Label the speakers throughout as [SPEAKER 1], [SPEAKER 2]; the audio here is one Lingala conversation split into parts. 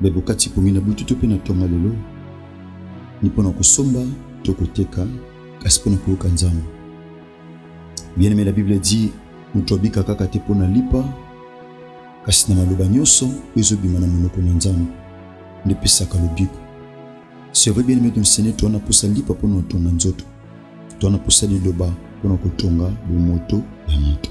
[SPEAKER 1] Be bokati pongi na butu to mpe na tonga lelo ni mpo na kosomba to koteka kasi mpo na koyoka nzambe bien aimé la bible dit moto abika kaka te mpo na lipa kasi na maloba nyonso oyo ezobima na monoko na nzambe nde epesaka lobiko c'est vrai bien aimé ton seigneur toa na mposa lipa mpo na kotonga nzoto toa na mposa liloba mpo na kotonga bomoto ya moto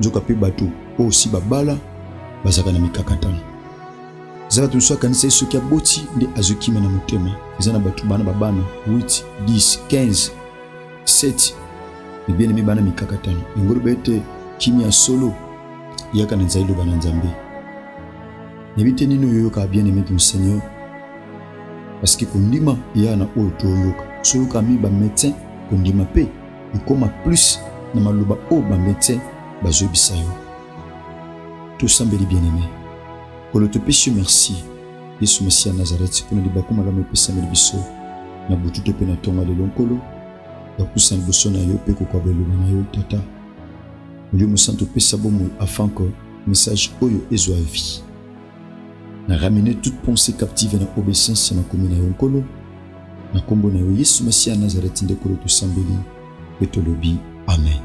[SPEAKER 1] nzoka mpe bato oyo osi babala bazalaka na mikakatano eza bato mosusu akanisa ye soki aboti nde azwi kimia na motema eza na bato bana babana 8 10 15 7 ebielemi bana mikakatano yango loba ete kimia ya solo eyaka na nzali loba na nzambe nayebi te nini oyoyokaka bien aime ton seigneur parce que kondima eyaka na oyo toyoyoka soyoka mi bamédecin kondima mpe ekoma plus na maloba oyo bamedecin bazoyebisa yo tosambeli bien aime kolo topesi yo merci yesu masiya nazareti mpo na libaku malamu epesameli biso na butu to mpe na ntongo ya lelo nkolo bapusa liboso na yo mpe kokwaba eloba na yo tata molimo mosantu opesa bomoi afin que message oyo ezwa vie na ramene toute pensée captive na obéissance ya makomi na yo nkolo Na kombo na yo Yesu Masiya Nazareti nde Kolo tosambeli pe tolobi amen.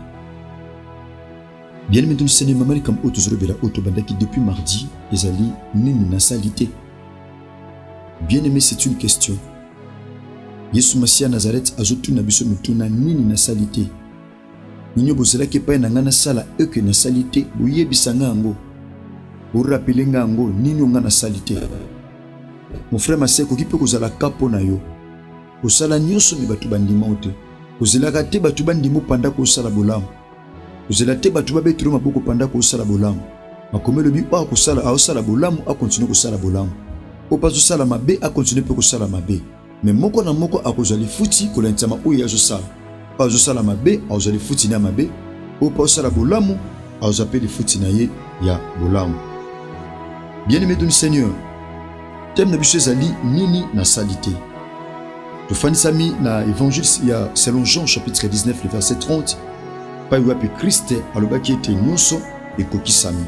[SPEAKER 1] Bien-aimé donc Seigneur, mama likambo oyo tozolobela oyo tobandaki depuis mardi ezali nini nasali te. Bien-aimé, c'est une question. Yesu Masiya Nazareti azotuna biso mituna nini nasali te. Nini bozalaki epai na ngai nasala eke nasali te? Boyebisa ngai yango. Borapele ngai yango nini onga nasali te. Mon frère masi ekoki mpe kozala ka mpo na yo. Osala nyonso me bato bandima o te. Ozelaka te bato bandima opanda kosala bolamu. Ozela te bato babetelo maboko panda kosala bolamu. Makomi elobi oyo akosala aosala bolamu akontinue kosala bolamu. Oyo mpe azosala mabe akontinue mpe kosala mabe. me moko na moko akozwa lifuti kolandisama oyo ye azosala oyo azosala mabe akozwa lifuti na mabe oyo mpo azosala bolamu akozwa mpe lifuti na ye ya bolamu bien aimé doni seigneur teme na biso ezali nini nasali te tofandisami na évangile ya selon jean chapitre 19 le verset 30 epai wapi kriste alobaki ete nyonso ekokisami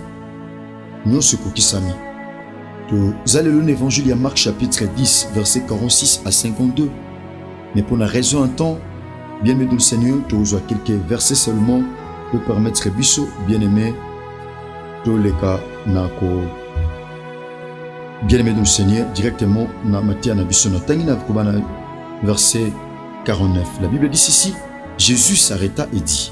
[SPEAKER 1] Nyonso ekokisami. Toza lelo na Evangile ya Marc chapitre 10 verset 46 à 52. Mais pour la raison un temps, bien aimé le Seigneur, tu reçois quelques versets seulement pour permettre biso, bien aimé, tous les cas, nako, bien aimé le Seigneur, directement, na matière na biso, na tangi na verset 49. La Bible dit ceci, Jésus s'arrêta et dit,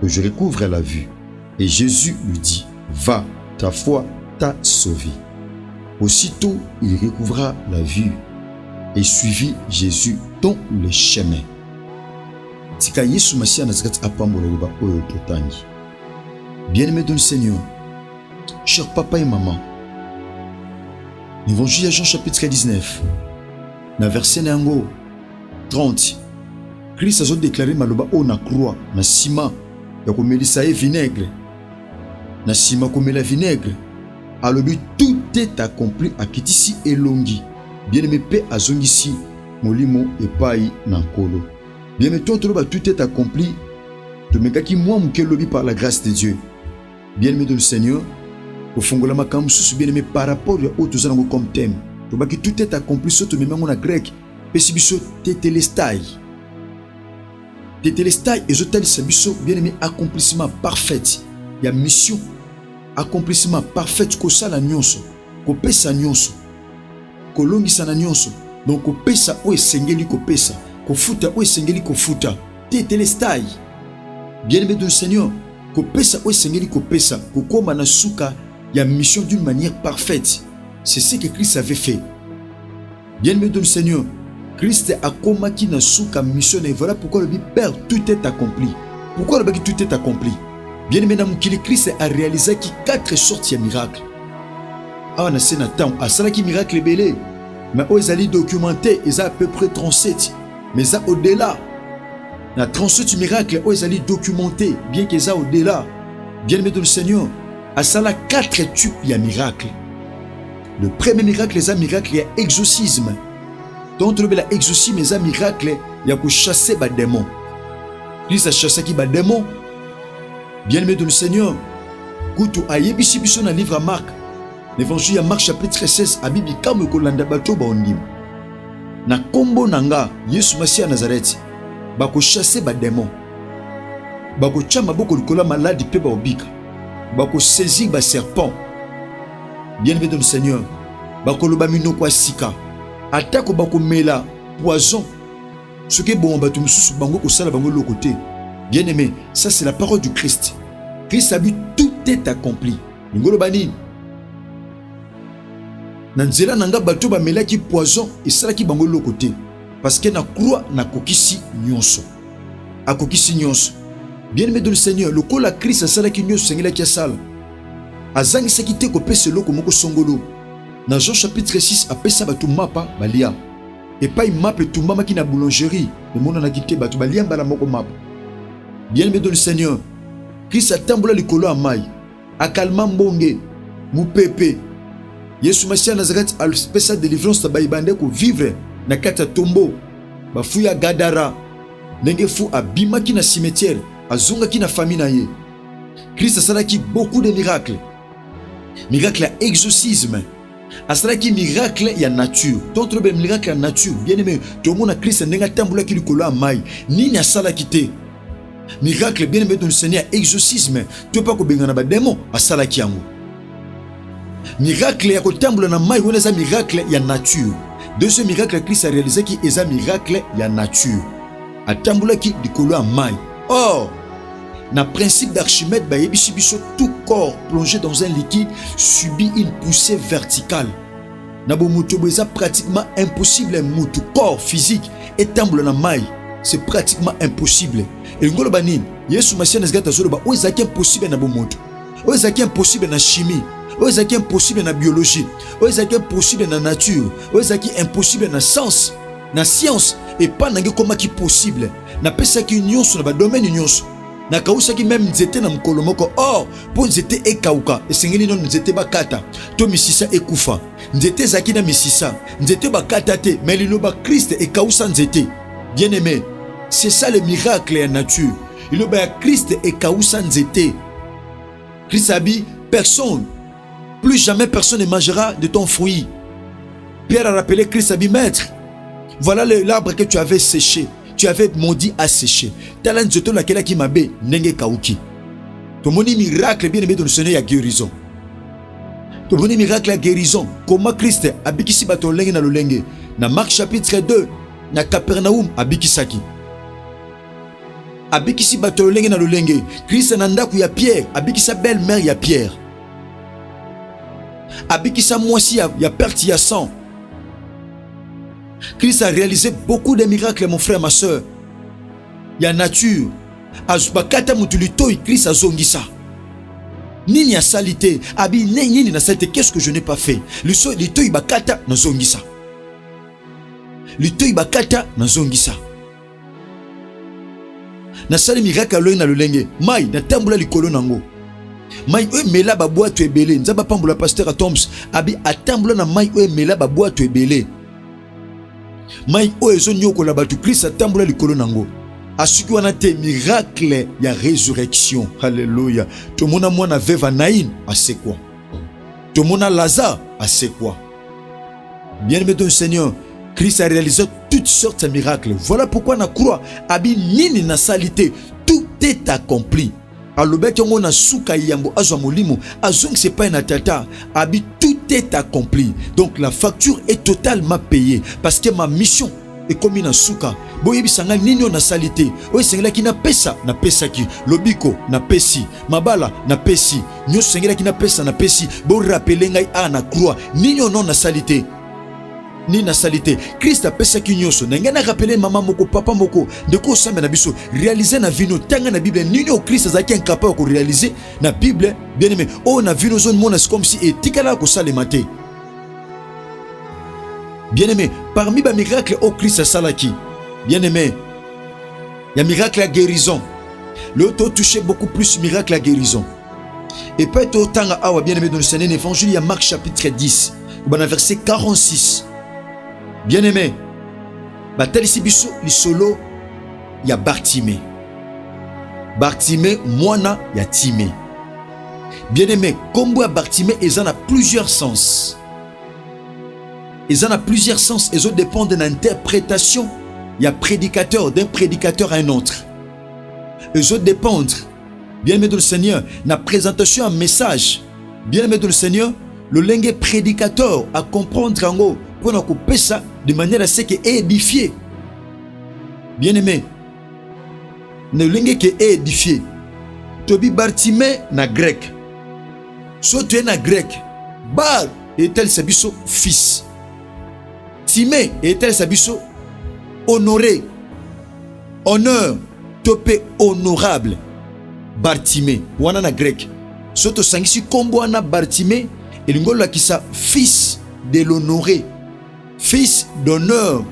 [SPEAKER 1] que je recouvre la vue. Et Jésus lui dit, Va, ta foi t'a sauvé. Aussitôt, il recouvra la vue et suivit Jésus dans le chemin. tika yesu masiya na kati apambola liloba oyo totangi bien-aimé dans le seigneur cher papa et maman l'évangile ya jean chapitre 19 na verset na yango 30 Christ azo deklare maloba oyo na croix na nsima ya komelisa ye vinaigre na nsima komela vinaigre alobi tout est accompli akitisi elongi bien-aime mpe azongisi molimo epai na nkolo bien-aime to toloba tout est accompli tomekaki mwa moke lobi par la grâce de dieu bien-aime de le seigneur kofongola makambo mosusu bien-aime par rapport ya oyo toza nango comme thème tobaki tout est accompli so tomemi yango na grec pesi biso tetelestai tetelestai ezotalisa biso bien aimé accomplissement parfaite ya mission accomplissement parfaite kosala nyonso kopesa nyonso kolongisa na nyonso donc kopesa oyo esengeli kopesa kofuta oyo esengeli kofuta tetelestai bien aimé de seigneur kopesa oyo esengeli kopesa kokoma na suka ya mission d'une manière parfaite c'est ce que christ avait fait Bien aimé dans le Seigneur, Christ akomaki na suka mission na ye. Voilà pourquoi le Père tout est accompli. Pourquoi le tout est accompli? Bien aimé na mokili Christ a réalisé ki quatre sortes ya miracles. Awa na se na temps asalaki miracle ebele mais oyo ezali documenté eza à peu près 37 mais eza au-delà na 37 miracle oyo ezali documenté bien qu'eza au-delà bien aimé dans le Seigneur asala 4 types ya miracle Le premier miracle eza miracle ya exorcisme. Donc tolobela exorcisme eza miracle ya ko chasser ba démons. Christ a chassé ki ba démons. Bien-aimé de le Seigneur, kutu ayebisi biso na livre ya Marc, l'évangile ya Marc chapitre 16 abi bikamwe kolanda bato baondima. Na kombo na nga Yesu Masiya Nazareth, bako chasser ba démons. Bako tia maboko likolo ya maladi mpe baobika. Bako saisir ba serpents bien aimé dans le seigneur bakoloba minoko ya sika atako bakomela poison soki eboma bato mosusu bango kosala bango eloko te bien aimé ça c'est la parole du christ christ abi tout est accompli lingo oloba nini na nzela na ngai bato bamelaki poison esalaki bango eloko te parce que na croix nakokisi nyonso akokisi nyonso bien aimé dans le seigneur lokola christ asalaki nyonso esengelaki asala Azangisaki te kopesa eloko moko songolo. Na Jean chapitre 6, apesa bato mapa balia. Epai mapa etumbamaki na boulangerie, emonanaki te bato balia mbala moko mapa. Bien-aime dans le Seigneur, Kristo atambola likolo ya mai, akalma mbonge, mupepe. Yesu Masiya Nazareth apesa delivrance na baye bande kovivre na kati ya tombo, bafu ya Gadara. Ndenge fu abimaki na cimetière, azongaki na famille na ye. Christ asalaki beaucoup de miracles, miracle ya exorcisme asalaki miracle ya nature d'autres be miracle ya nature bien aimé tomona kristo ndenge atambolaki likolo ya mai nini asalaki te miracle bien aimé tonisani ya exorcisme to mpe kobengana bademo asalaki yango miracle ya kotambola na mai wana eza miracle ya nature deuxième miracle ya kristo arealizaki eza miracle ya nature atambolaki likolo ya mai or Na principe d'Archimède bayebisi biso tout corps plongé dans un liquide subit une poussée verticale. Na bomoto bo eza pratiquement impossible mutu corps physique etambola na mai c'est pratiquement impossible. Elingi koloba nini? Yesu Masiya na zikata azoloba oyo ezalaki impossible na bomoto, oyo ezalaki impossible na chimie oyo ezalaki impossible na biologie oyo ezalaki impossible na nature oyo ezalaki impossible na science na science epai nange ekomaki possible napesaki nyonso na badomeni nyonso nakawusaki meme nzete na mokolo moko or mpo nzete ekauka esengeli nono nzete bakata to misisa ekufa nzete ezalaki na misisa nzete bakata te me liloba kriste ekawusa nzete bien aime c'est ça le miracle ya nature liloba ya kriste ekawusa nzete kriste abi personne Plus jamais personne ne mangera de ton fruit. Pierre a rappelé Christ a dit Maître, voilà l'arbre que tu avais séché, tu avais maudit à sécher. Tala nzoto na kela ki mabe ndenge kauki. Tomoni miracle bien aimé de Seigneur ya guérison. Tomoni miracle ya guérison. Comment Christ abikisi bato lolenge na lolenge. Na Marc chapitre 2, na Capernaum abikisaki. abikisi bato ya lolenge na lolenge. Krista na ndako ya Pierre abikisa belle mère ya Pierre, abikisa mwasi ya, ya perte ya sang. Christ a réalisé beaucoup de miracles mon frère ma soeur ya nature bakata motu litoi Christ azongisa nini asali te abi ne nini nasali te qu'est-ce que je n'ai pas fait litoi bakata nazongisa litoi bakata nazongisa nasali miracle aloi na lolenge mai natambola likolo na yango mai oyo emela babwato ebele nzambe apambola paster atoms abi atambola na mai oyo emela babwato ebele mai oyo ezoniokola bato kristo atambola likolo na yango asuki wana te miracle ya resurrection halleluya tomona mwana veva naine asekwa tomona lazare asekwa Bien aimé de Seigneur, Christ a réalisé toutes sortes de miracles. Voilà pourquoi na croix abi nini na salité, tout est accompli. alobaki yango na suka yambo azwa molimo azongisa epai na tata abi tout est accompli donc la facture est totalement payée parce que ma mission ekomi na suka boyebisa ngai nini oyo nasali te oyo esengelaki napesa napesaki lobiko napesi mabala napesi nyonso esengelaki napesa napesi borapele ngai a na croix nini oyo no nasali te nini nasali te kriste apesaki nyonso na ngai narapele mama moko papa moko ndeko osambe na biso realize na vino tanga na bible nini oyo kriste azalaki incapable ya korealize na bible bien aime oyo na vino ozomona si comme si etikalaka kosalema te Bien-aimé, parmi ba miracle au Christ asalaki, bien-aimé, il y a miracle à guérison. Leo to touché beaucoup plus miracle à guérison. Et pas to tanga awa bien-aimé dans le Saint Évangile, il y a Marc chapitre 10, au verset 46. Bien-aimé, batalisi biso lisolo ya Bartimée. Bartimée mwana ya Timée. Bien aimé, kombo ya Bartime eza na plusieurs sens. Eza na plusieurs sens ezo dépendre na interprétation ya prédicateur d'un prédicateur à un autre. Ezo dépendre bien aimé de le Seigneur na présentation ya message. Bien aimé de le Seigneur, lolenge prédicateur à comprendre yango pona kopesa de manière à ce que édifier. Bien aimé, na lolenge ke eedifie tobi bartime na greke so toye na greke bar etalisa biso fils time etalisa biso honore honneur to mpe honorable bartime wana na greke so tosangisi nkombo wana bartime elingi olakisa fils de l'honore fils d'honneur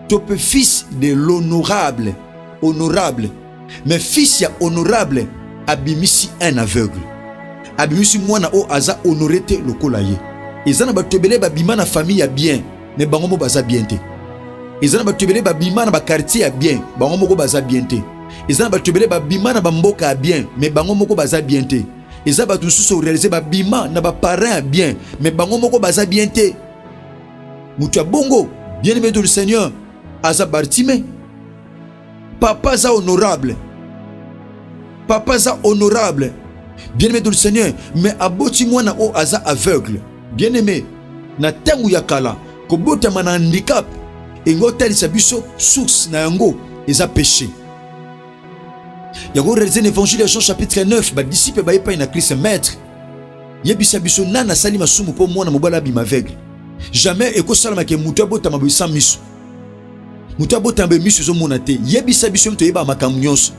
[SPEAKER 1] to mpe fils de l'honorable honorable mais fils ya honorable abimisi un aveugle abimisi mwana oyo aza honore te lokola ye eza na bato ebele babima na famille ya bien me bango moko baza bien te eza na bato ebele babima na bakartier ya bien bango moko baza bien te eza na bato ebele babima na bamboka ya bien me bango moko baza bien te eza bato mosusu orealize babima na baparent ya bien me bango moko baza bien te moto ya bongo bien aimé de le seigneur aza bartime papa aza honorable papa aza honorable bien aimé de le seigneur mais aboti mwana oyo aza aveugle bien aimé na ntango ya kala kobotama na handicap engo otalisa biso source na yango eza péché yango realize na évangile ya jean chapitre 9 badisiple baye epai na kristo maître yebisa biso nani asali masumu mpo mwana mobali abima aveugle jamais ekosalama ke moto abotama boye sans miso moto abotama boye miso ezomona te yebisa biso moto oyebaka makambo nyonso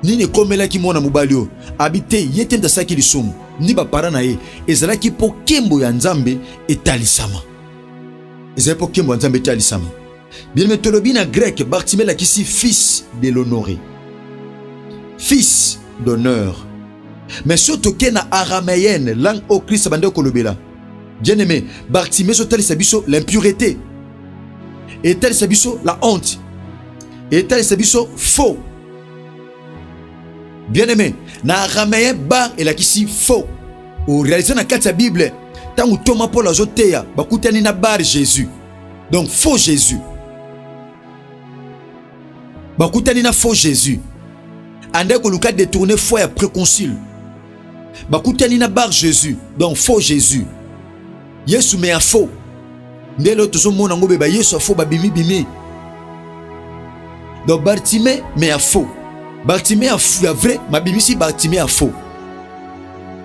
[SPEAKER 1] nini ekomelaki mwana mobali oyo abi te ye te moto asalaki lisumu ni bapara na ye ezalaki mpo kembo ya nzambe etalisama ezali mpo kembo ya nzambe etalisama Bien-aimé, tolobi na grec, Bartimee elakisi fils de l'honneur. Fils d'honneur. Mais soki toke na araméenne, langue oyo Christ abandaki kolobela, bien-aimé, Bartimee ezotalisa biso l'impureté, etalisa biso la honte, etalisa biso faux. Bien-aimé, na araméen bar elakisi faux. Orealize na kati ya Bible, ntango ntoma Paul azoteya, bakutani na bar Jésus. donc faux jésus bakutani na faux jésus andaki koluka détourne foi ya préconcile bakutani na bar jésus donc faux jésus yesu me ya faux nde lelo tozomona yango beba yesu ya faux babimibimi donc bartime me ya faux bartime ya, ya vrai mabimisi bartime ya faux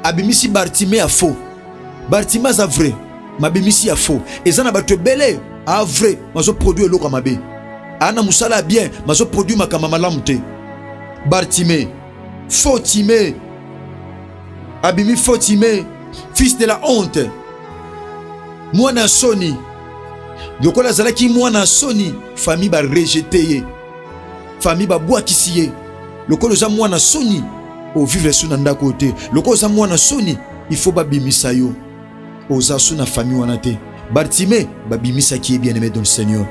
[SPEAKER 1] abimisi bartime ya faux bartime aza vrai mabimisi ya faux eza na bato ebele a vrai mazo produit eloko ya mabe aa na mosala ya bien mazo produit makambo malamu te bartime faux time abimi faux time fils de la honte mwana ya soni lokola azalaki mwana ya soni famille barejete ye famille babwakisi ye lokola oza mwana soni ovivre so na ndako oyo te lokola oza mwana soni il faut babimisa yo Oza sous na famille wana te. Bartime babimisaki ye bien aimé dans le Seigneur.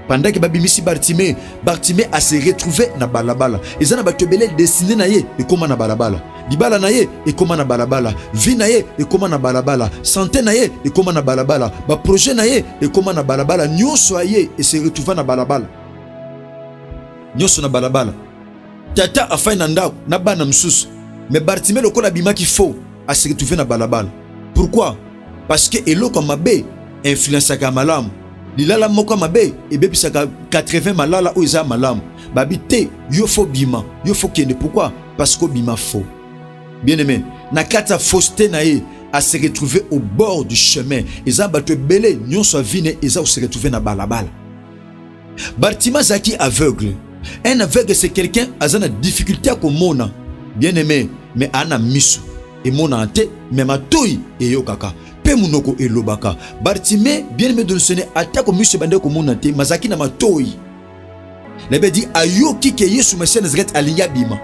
[SPEAKER 1] Pendant que babimisi Bartime, Bartime a se retrouver na balabala. Eza na bato ebele destiné na ye ekoma na balabala. Libala na ye ekoma na balabala, vie na ye ekoma na balabala, santé na ye ekoma na balabala, ba projet na ye ekoma na balabala, nyonso aye e se retrouva na balabala. Nyonso na balabala. Tata afai na ndako na bana mosusu, me Bartime lokola abimaki faux aseretrouve na balabala. Pourquoi? Parce que eloko ya mabe influensaka ya malamu. Lilala moko ya mabe ebebisaka 80 malala oyo eza ya malamu. Babi te, yo fo bima, yo fo kende. Pourquoi? Parce que obima faux. Bien aimé, na kati ya fausseté na ye à se retrouver au bord du chemin. Eza bato ebele nyonso ya vie ne eza ko se retrouver na balabala. Bartima azalaki aveugle. Un aveugle c'est quelqu'un aza na difficulté ya komona bien aimé mais ana misu emonana te me matoi eyokaka mpe monoko elobaka bartime bien aimé donsone atako miso ebandaki komona te mazalaki na matoi nayebi adi ayoki ke yesu masiya nazareti alingi abima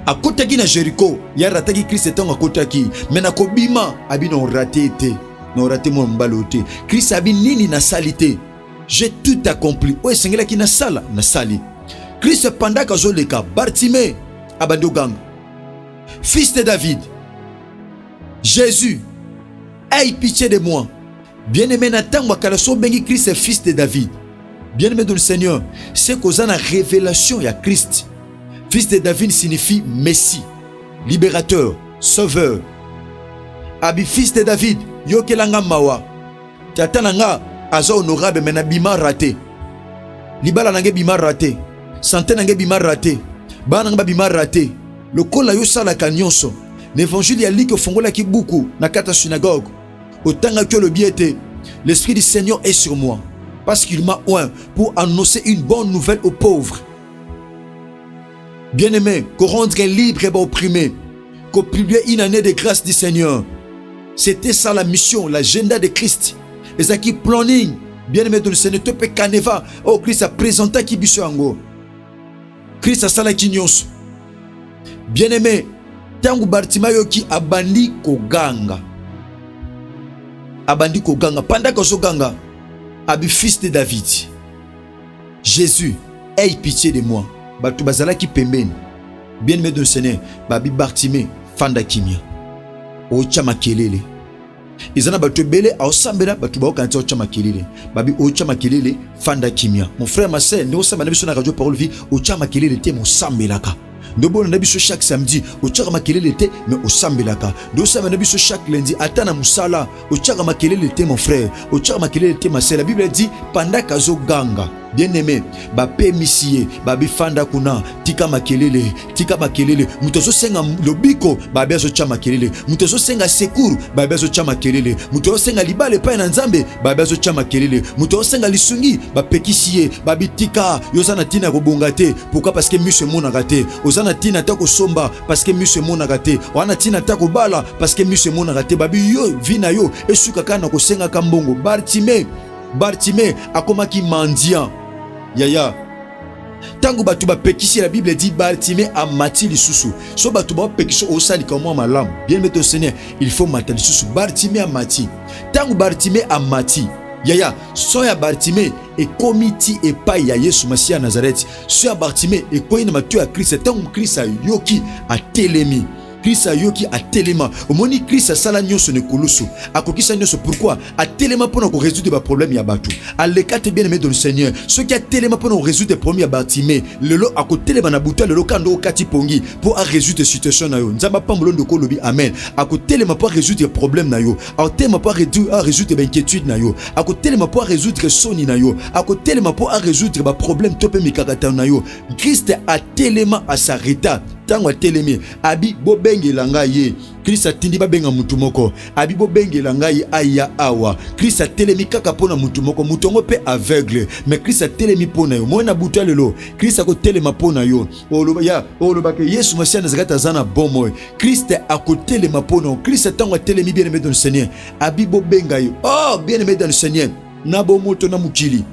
[SPEAKER 1] akotaki na jeriko ye arataki kristo ntango akotaki me na kobima abi na orate te na orate mwana mobali oyo te kristo abi nini nasali te je tout accompli oyo esengelaki nasala nasali kristo pandaka azoleka bartime abandi oganga fils de david jésus aie pitié de moi bien-aimé na ntango ya kala so obengi kristo fils de david bien-aimé de le seigneur se koza na révélation ya kristo fils de david signifie messie libérateur sauveur abi fils de david yokelanga mawa Tata na nga aza honorable mais na bima rate. Libala na nga bima rate. Santé na nga bima rate. Bana nga bima rate. Lokola yo salaka nyonso. L'évangile ya Luc ofongolaki buku na kata synagogue. Otangaki olobi ete l'esprit du Seigneur est sur moi parce qu'il m'a oint pour annoncer une bonne nouvelle aux pauvres. Bien-aimé, ko rendre libre ba opprime, ko publier une année de grâce du Seigneur. C'était ça la mission, l'agenda de Christ. Ezaki planning, bien-aimé de le Seigneur, to pe caneva, oh Christ a présenta ki biso yango. Christ asala ki nyonso. Bien-aimé, tango Bartimayo ki abandi koganga. Abandi koganga, pendant que ganga, abi fils de David. Jesus, aie pitie de moi. Bato bazalaki pembeni. Bien-aime de Seigneur, babi Bartime, fanda kimia. Ocha makelele. eza na bato ebele aosambela bato baokana ti otya makelele babi otya makelele fanda kimia mon frère ma sœur nde osambela na biso na radio parole vie otya makelele te mosambelaka nde obonda na biso chaque samedi otyaka makelele te me osambelaka nde osambela na biso chaque lundi ata na mosala otyaka makelele te mon frère otyaka makelele te masela biblia di pandaka azoganga bien aime bapemisi ye babifanda kuna tika makelele tika makelele moto azosenga lobiko babe azotya makelele moto azosenga secour babe azotya makelele moto azosenga libala epai na nzambe babe azotya makelele moto azosenga lisungi bapekisi ye babitika yo oza na ntina ya kobonga te pourquoi parce que miso emonaka te oza na ntina ata kosomba parce que miso emonaka te oza na ntina ata kobala parce que miso emonaka te babi yo vi na yo esuka kaka na kosengaka mbongo bartime bartime akomaki mendiant yaya ntango bato bapekisi la bible dit bartime amati lisusu so bato bapekisi osalika mwa malamu bien mete oseigneur il faut mata lisusu bartime amati ntango bartime amati yaya son ya bartime ekomi ti epai ya yesu masiya ya nazareti so ya bartime ekwei na matoi ya krista ntango krista ayoki atelemi krista ayoki atelema omoni krista asala nyonso na ekulusu akokisa nyonso pourkui atelema mpo na koresoudre baproblème ya bato aleka te bien aimé de le seigneur soki atelema mpo na koresoudre problème ya bartime lelo akotelema na butu ya lelo kando okati pongi mpo aresoudre situation na yo nzambe apambola ndoko olobi amen akotelema mpo aresoudre problème na yo akotelema mpo aresoudre bainquiétude na yo akotelema mpo aresoudre soni na yo akotelema mpo aresoudre baproblème to mpe mikakatano na yo kriste atelema asareta ntango atelemi abi bobengela ngai ye kristo atindi babenga motu moko abi bobengela ngai aya awa kristo atelemi kaka mpo na motu moko motu yango mpe aveugle me kristo atelemi mpo na yo moi na butu ya lelo kristo akotelema mpo na yo oloba ya olobaka yesu masiya nazalaki te aza na bomoi kriste akotelema mpo na kriste ntango atelemi bien aimé dans le seigneur abi bobenga ye oh bien aimé dans le seigneur na bomoto na mokili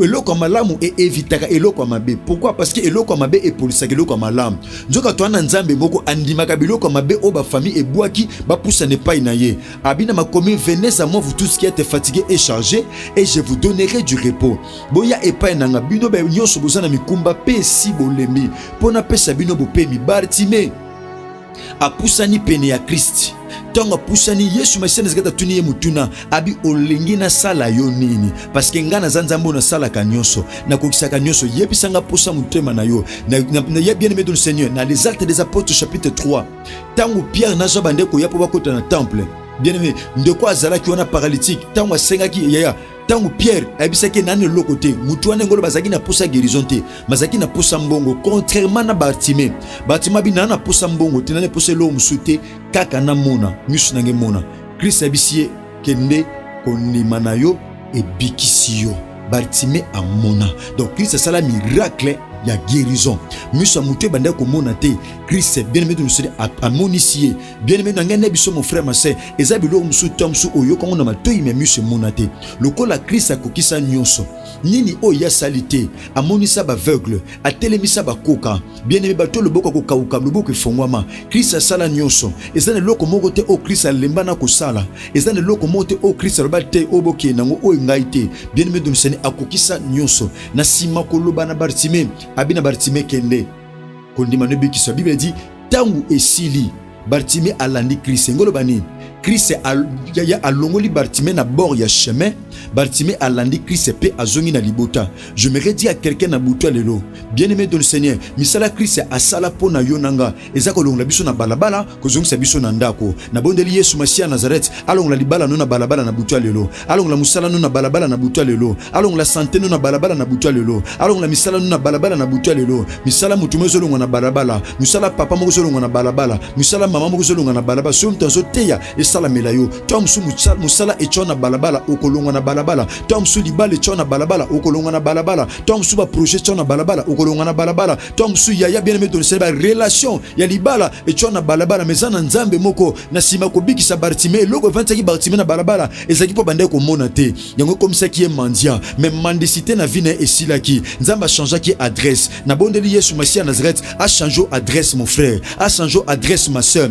[SPEAKER 1] eloko ya malamu eevitaka eloko ya mabe pourkui parce que eloko ya mabe epolisaka eloko ya malamu nzoka toa na nzambe moko andimaka biloko ya mabe oyo bafamille ebwaki bapusana epai na ye abina makomi venez à moi vous tous qui ete fatigue et charge et je vous donnerai du repos Boya epai na nga bino baye nyonso boza na mikumba mpe esi bolembi, mpo napesa bino bopemi. Bartime apusani pene ya Kristi. Ntango apusani, Yesu Masiya Nazareti atuni ye motuna, abi olingi nasala yo nini? Paske ngai naza Nzambe oyo nasalaka nyonso, nakokisaka nyonso. Yebisa ngai mposa motema na yo. Na, na, na, ya bien aimé de Seigneur, na les actes des apôtres chapitre 3, ntango Pierre na Jean bandeko ya mpo bakota na temple, bien aimé ndeko azalaki wana paralytique, ntango asengaki yaya ntango pierre ayebisaki ye nani eloko te motu wana engolo bazalaki na mposa ya guérison te bazalaki na mposa mbongo contrairement na bartime bartime abi naa na mposa mbongo te nani mposa eloko mosusu te kaka namona miso na ngai mona kristo ayebisi ye kende kondima na yo ebikisi yo bartime amona donc kristo asala miracle ya guérison miso ya motu ebandaki komona te kristo bien aime tonoseli amonisi ye bien aimé na ngai na biso mon frère ma sœur eza biloko mosusu ntango mosusu oyoka yango na matoi me miso emona te lokola kristo akokisa nyonso nini oyo ye asali te amonisa baaveugle atelemisa bakoka bien aimé bato loboko akokauka loboko efongwama kristo asala nyonso eza na eloko moko te oyo kristo alemba na kosala eza na eloko moko te oyo kristo aloba te oyo bokende yango oyo ngai te bien aimé domisani akokisa nyonso na nsima koloba na bartime abi na bartime kende Kondima no ebikiso. La Bible a dit tangu esili Bartime alandi Christ. Ngolo bani Christ ya alongoli Bartime na bord ya chemin. Bartime alandi Christ pe azongi na libota. Je me redis à quelqu'un na butu lelo. Bien-aimé dans le Seigneur, misala Christ asala pona yo nanga. Ezako longola biso na balabala kozongisa biso na ndako. Nabondeli Yesu Masiya Nazareth alongola libala no na balabala na butu ya lelo, alongola mosala no na balabala na butu ya lelo, alongola sante no na balabala na butu ya lelo, alongola misala no na balabala na butu ya lelo. Misala moto moko ezolongwa na balabala, mosala papa moko ezolongwa na balabala, mosala mama moko ezolongwa na balabala. Soki moto azoteya esalamela yo, to mosu mosala etyo na balabala, okolongwa na balabala, to mosu libala etyo na balabala, okolongwa na balabala, to mosu ba projet etyo na balabala, okolongwa na balabala. ntango mosusu yaya bien aime tonisali barelation ya libala etya na balabala ma eza na nzambe moko na nsima kobikisa bartime eloko efandisaki bartime na balabala ezalaki mpo bandaki komona te yango ekomisaki ye mandia me mandisite na vi na ye esilaki nzambe achangeaki adresse nabondeli yesu masiya nazareth achange adresse mon frère achange adresse ma sœur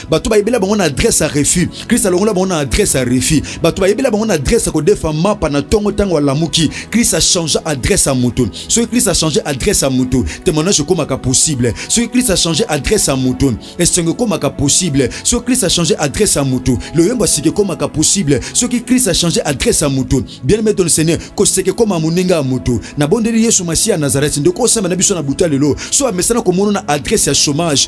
[SPEAKER 1] bato bayebela bango na adresse ya refus krist alongola bango na adresse ya refus bato bayebela bango na adresse ya kodefa mapa na ntongo ntango alamuki krist achange adresse ya moto soki krist achange adresse ya moto témoignage ekomaka possible soki krist achange adresse ya moto esengo ekomaka possible soki krist achange adresse ya moto loyembo asika ekomaka possible soki krist achange adresse ya moto bien aimé ton seigneur koseka ekoma moninga ya moto nabondeli yesu masiya ya nazareti ndeko osamba na biso na buta lelo so amesana komono na adresse ya chômage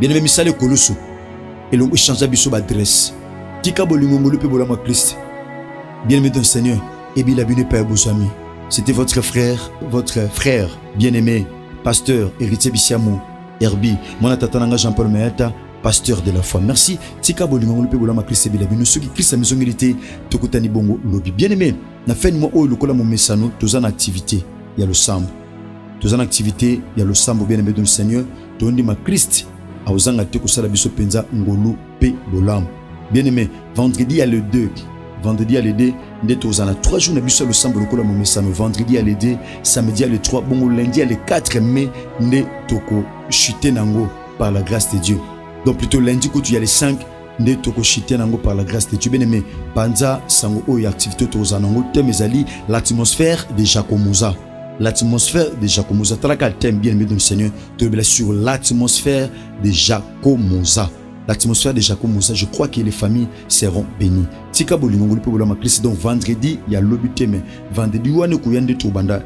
[SPEAKER 1] bien aimé misala ekolusu elongo echangea biso baadresse tika bolingo ngolu mpe bolamu ya kriste bien aimé don seigneur ebila bino epai ya bozwami c'était votre frère votre frère bien aimé pasteur héritier bisiamu herbi mwana tata na ngai jean paul mayata pasteur de la foi merci tika bolingo ngolu mpe bolamu ya kriste ebila bino soki kriste amizongeli te tokutani bongo lobi bien aimé na fin mwa oyo lokola momesano toza na activité ya losambo toza na activité ya losambo bien aimé dans le seigneur tondima christ akozanga te kosala biso mpenza ngolu mpe bolamu bien aimé vendredi ya le 2 vendredi ya le 2 nde tozala na 3 jours na biso ya losambo lokola momesano vendredi ya le 2 samedi ya le 3 bongo lundi ya le 4 mai nde tokochute na yango par la grâce de dieu donc plutôt lundi kutu ya le 5 nde tokoshite na yango par la grâce de Dieu bien aimé panza sango oyo ya activité oyo tokozala na yango thème ezali l'atmosphère de Jacomoza l'atmosphère de Jacomoza talaka thème bien aimé de Seigneur tolobela sur l'atmosphère de Jacomoza l'atmosphère de Jacomoza je crois que les familles seront bénies tika bolingo ngoli mpe bolama Christ donc vendredi ya lobi te mais vendredi wana ekoya nde tobanda